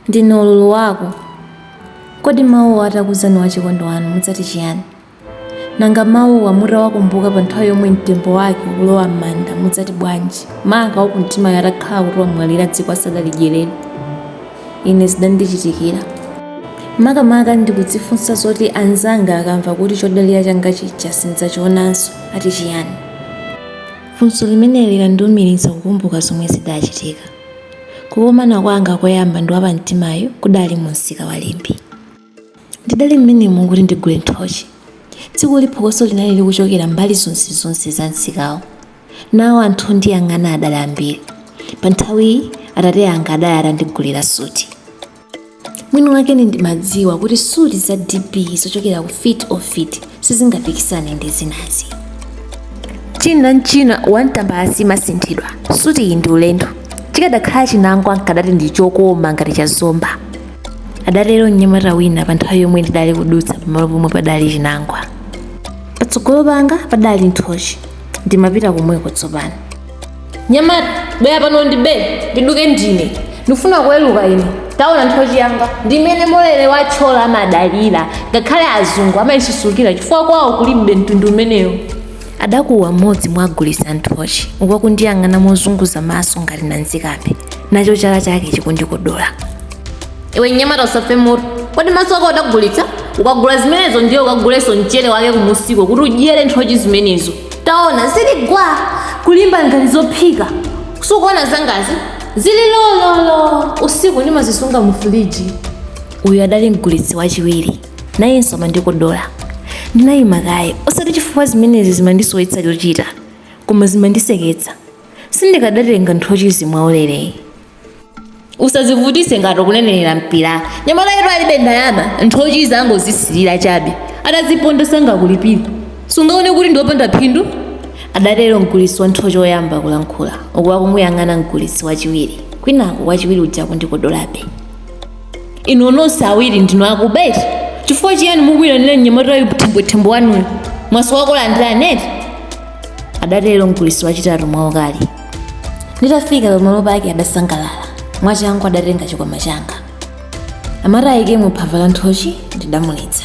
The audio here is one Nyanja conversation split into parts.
ndine ululu wako kodi mawuwa atakuuzani wachikondi wanu mudzati chiyani nanga mawuwa mutawakumbuka pa nthawi yomwe mtembo wake ukulowa m'manda mudzati bwanji maka wakumtimayo atakhala kuti wamwalira dziko asadalidyerere ine zidandichitikira makamaka ndikudzifunsa zoti anzanga akamva kuti chodalira changa chija sindidzachionanso ati chiyani funso limeneli lidandiumiriza kukumbuka zomwe zidachitika Kukomana kwanga koyamba ndi wapamtimayu kudali mu msika wa Limbe. Ndidali mmenemo kuti ndigule nthochi. Tsikuli phokoso linali likuchokera mbali zonsezonse za msikawo. Nawo anthu ondiyang'ana adali ambiri. Panthawiyi, atate anga adali atandigulira suti. mwini wakene ndimadziwa kuti suti za dp zochokera ku fit ofit sizingapikisane ndi zinazi china nchina one tambala siimasinthidwa suti iyi ndi ulendo chikadakhala chinangwa nkadati ndi chokoma ngati cha zomba adatero mnyamata wina pa nthawi yomwe ndidali kudutsa pamalo pomwe padali chinangwa patsogolo panga padali nthochi ndimapita komweko tsopano mnyamata bwera pano ndibe ndiduke ndine ndikufuna kuweruka ine taona nthochi yanga ndimene molere wa thyolo amadalira ngakhale azungu amayisusukira chifukwa kwawo kulibe mtundu umenewo adakuwa mmodzi mwa ogulitsa nthochi uku akundiyang'ana mozunguza maso ngati nanzikambe nacho chala chake chikundikodola iwe mnyamata usafe moto kodi maso ako udagulitsa ukagula zimenezo ndiye ukagulenso mchere wake kumusiko kuti udyere nthochi zimenezo taona zili gwa kulimba ngati zophika sukuona zangazi zili lololo usiku ndimazisunga mu firiji uyu adali mgulitsi wachiwiri nayenso amandikodola ndinayima kaye osati chifukwa zimenezi zimandisowetsa chochita koma zimandiseketsa sindikadatenga nthochizi mwaulere ayi usazivutise ngati ukunenerera mpira mnyamatayutu alibe ndalama nthochizo angozisirira chabe ataziponda sangakulipire sungaone kuti ndiopanda phindu adatero mgulitsi wa nthochi woyamba kulankhula uku akumuyang'ana mgulitsi wachiwiri kwinaku wachiwiri uja akundikodolabe inu nonse awiri ndinu akuba eti chifukwa chiyani mukuyitanira mnyamatayu thembwethembwe wanuyo mwasowa okulandirani eti adatero mgulitsi wachitatu mwaukali nditafika pamalo pake adasangalala mwachangu adatenga chikwama changa amati ayikemo phava la nthochi ndidamuletsa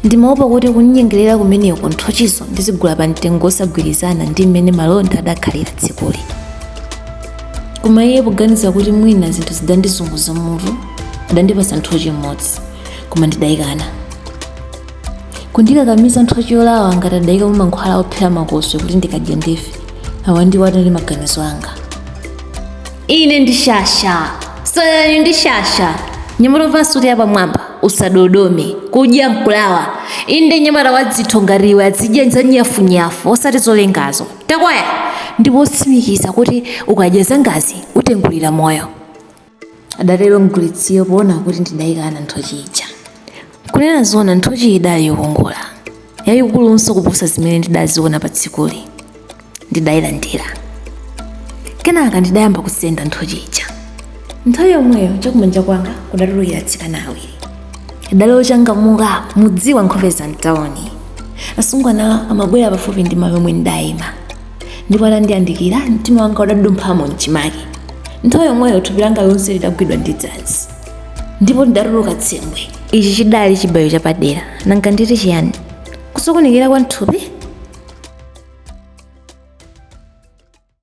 ndimaopa kuti kundinyengerera kumeneko nthochizo ndizigula pa mtengo wosagwirizana ndi mmene malonda adakhalira tsikuli koma iye poganiza kuti mwina zinthu zidandizunguza mutu adandipatsa nthochi imodzi koma ndidayikana kundikakamiza nthochi yolawa ngati adayika mumankhwala ophera makoswe kuti ndikadya ndife awa ndiwo adali maganizo anga ine ndi shasha soyani ndi shasha mnyamata wasuti yapamwamba usadodome kudya mkulawa inde mnyamata wadzitho ngati iwe adzidya zonyafunyafu osati zolengazo takwaya ndipo otsimikiza kuti ukadya zangazi utengulira moyo adatero mgulitsiyo poona kuti ndidayikana nthochi ija kunena zoona nthochi idali yokongola yayikulunso kuposa zimene ndidaziona pa tsikuli ndidayilandira kenaka ndidayamba kusenda nthochi ija nthawi yomweyo chakumanja kwanga kudatulukira atsikana awiri adali ochangamuka mudziwa nkhope za mtawuni asungwanawa amabwera pafupi ndi malo omwe ndidayima ndipo atandiyandikira mtima wanga udadumphamo mchimake nthawi yomweyo thupi langa lonse lidagwidwa ndi dzanzi ndipo ndidatuluka tsembwe ichi chidali chibayo chapadera nanga nditi chiyani kusokonekera kwa mthupi